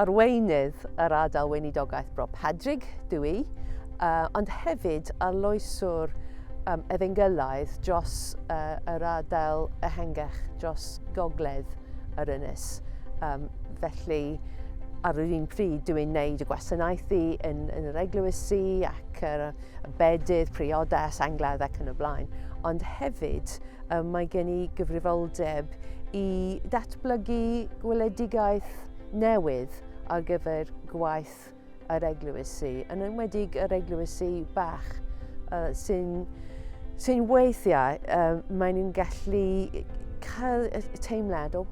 arweinydd yr ardal weinidogaeth Bro Padrig, dwi i, uh, ond hefyd arloeswr um, efengylaidd dros uh, yr ardal ehengach dros gogledd yr ynys. Um, felly, ar yr un pryd, dwi'n gwneud y gwasanaethu yn, yn yr eglwysi ac yr, y bedydd, priodas, angledd ac yn y blaen. Ond hefyd, um, mae gen i gyfrifoldeb i datblygu gweledigaeth newydd ar gyfer gwaith bach yr eglwys i, yn enwedig yr eglwys i bach uh, sy'n sy weithiau, uh, maen nhw'n gallu cael y teimlad o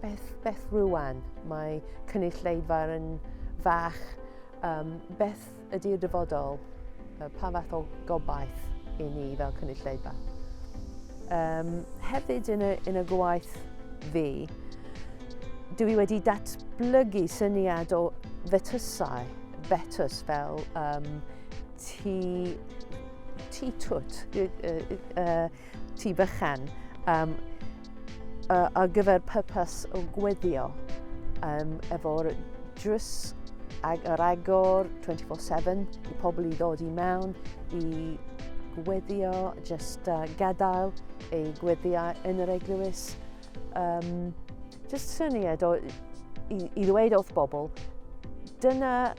beth, beth rwan mae cynulleidfa yn fach, um, beth ydy'r dyfodol, uh, pa fath o gobaith i ni fel cynulleidfa. Um, hefyd yn y, yn y gwaith fi, dwi i wedi datblygu syniad o fetysau, fetys fel um, ti, ti twt, ti bychan, um, ar gyfer purpose o gweddio um, efo'r drws ag yr agor 24-7 i pobl i ddod i mewn i Gweddio, just uh, gadael ei gweddiau yn yr eglwys. Um, just syniad o, i, i ddweud wrth bobl, dyna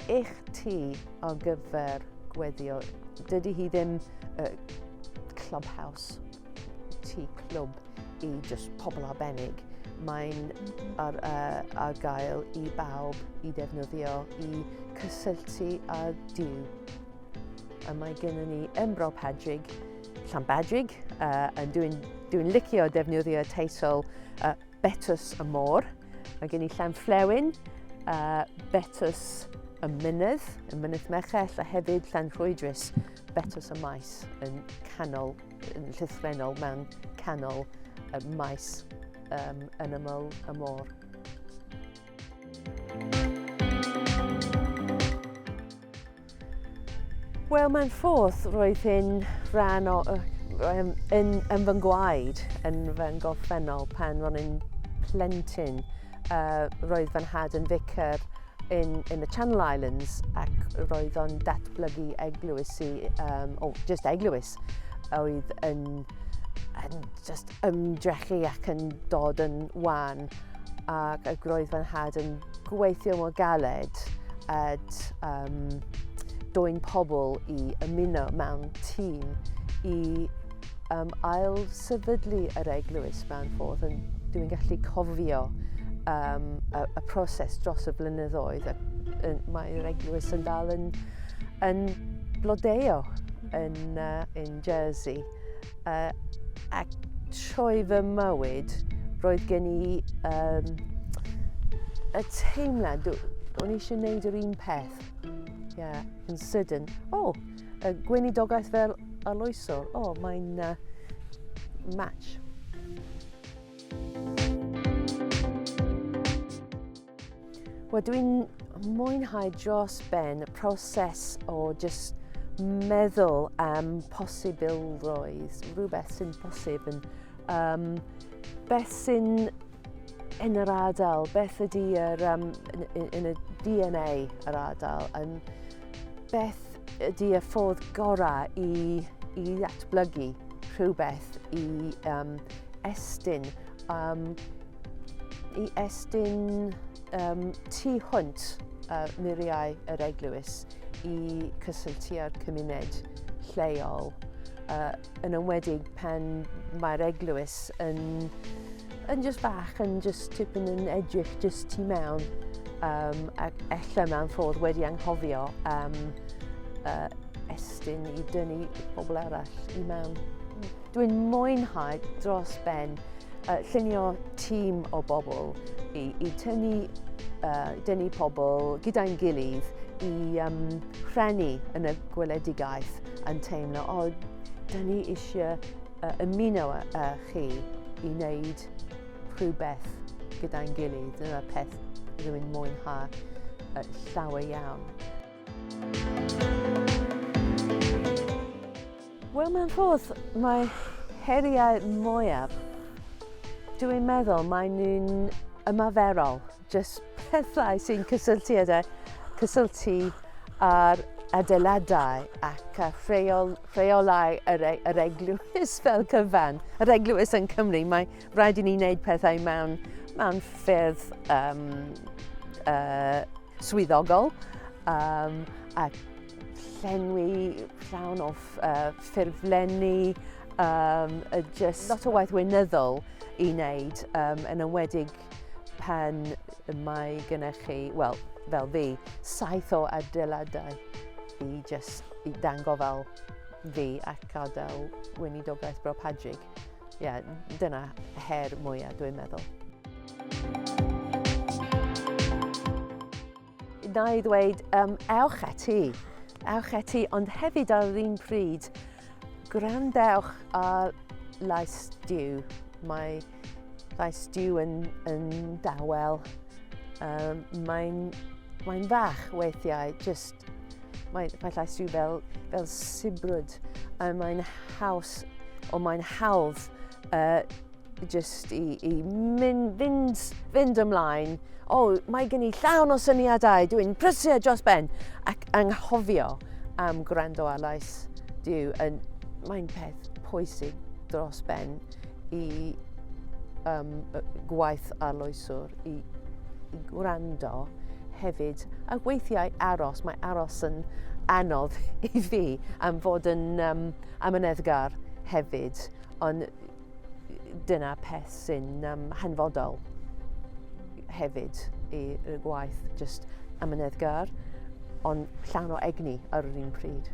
eich ti ar gyfer gweddio. Dydy hi ddim uh, clubhouse, ti clwb i just pobl arbennig. Mae'n ar, uh, ar gael i bawb i ddefnyddio i cysylltu â Dyw. A mae gennym ni Embro Padrig, Llanbadrig, uh, a dwi'n dwi licio defnyddio teitl uh, Betws y Môr. Mae gen i Llanflewyn, uh, Betws y Mynydd, y Mynydd Mechell, a hefyd Llanrhwydris, Betws y Maes, yn canol, yn llythrenol mewn canol y maes um, yn ymyl y môr. Wel, mae'n ffodd roedd hyn rhan o, yn, yn, yn fy ngwaed, yn fy ngorffennol pan ro'n i'n plentyn. Uh, roedd fy nhad yn ficer in, in the Channel Islands ac roedd o'n datblygu eglwys i, um, o, oh, just eglwys, oedd yn, yn just ymdrechu ac yn dod yn wan ac y groedd fy nhad yn gweithio mor galed at um, dwy'n pobl i ymuno mewn tîm i um, ail sefydlu yr eglwys mewn ffordd. Yn, dwi'n gallu cofio um, y, y proses dros y blynyddoedd. Mae'r eglwys yn dal yn, yn blodeo yn, uh, yn Jersey. Uh, ac trwy fy mywyd, roedd gen i um, y teimlad, o'n i eisiau gwneud yr un peth. Yeah, yn sydyn. O, oh, y gweinidogaeth fel aloesol. O, oh, mae'n uh, match. Wel, dwi'n mwynhau dros ben y proses o just meddwl am posibilrwydd, rhywbeth sy'n posib yn um, beth sy'n yn yr adael, beth ydy yr, um, yn, yn y DNA yr adael, yn, Beth ydy y ffordd gorau i, i ddatblygu rhywbeth i um, estyn, um, i estyn um, tu hwnt uh, muriau yr eglwys i cysylltu â'r cymuned lleol uh, yn ymwedig pan mae'r eglwys yn, yn just bach, yn just tipyn yn edrych just tu mewn um, ac ella mewn ffordd wedi anghofio am um, uh, estyn i dynnu pobl arall i mewn. Dwi'n mwynhau dros ben uh, llunio tîm o bobl i, i tynnu, uh, dynnu pobl gyda'n gilydd i um, rhennu yn y gweledigaeth. yn teimlo, o, da ni eisiau uh, ymuno â, â chi i wneud rhywbeth gyda'n gilydd. Dyna peth rwy'n mwynhau uh, llawer iawn. Wel, mae'n rhodd, mae heriau mwyaf, dwi'n meddwl, mae nhw'n ymaferol. Jyst pethau sy'n cysylltiedig, cysylltu â'r adeiladau ac â rheol, rheolau yr, e, yr eglwys fel cyfan. Yr eglwys yn Cymru, mae rhaid i ni wneud pethau mewn, mewn ffyrdd um, uh, swyddogol um, a llenwi llawn o uh, ffurflenni, um, just lot o waith weinyddol i wneud um, yn ymwedig pan mae gennych chi, wel, fel fi, saith o adeiladau i just i dango fel fi ac gadael weinidogaeth Bro Padrig. Ie, yeah, dyna her mwyaf dwi'n meddwl. Na i ddweud, um, ewch eti, ewch eti, ond hefyd ar yr un pryd, gwrandewch ar Lais Diw. Mae Lais Diw yn, yn dawel, um, mae'n mae fach weithiau, just, mae, mae Lais Diw fel, fel sibrwd, a mae'n haws, o mae'n hawdd uh, Just i, i mynd, fynd, fynd ymlaen. O, oh, mae gen i llawn o syniadau, dwi'n prysio dros ben. Ac anghofio am gwrando ar lais Dyw. Yn, mae'n peth pwysig dros ben i um, gwaith arloeswr, i, i gwrando hefyd. A weithiau aros, mae aros yn anodd i fi am fod yn um, amyneddgar hefyd. Ond Dyna peth sy'n um, hanfodol hefyd i y gwaith, just amyneddgar, ond llawn o egni ar yr un pryd.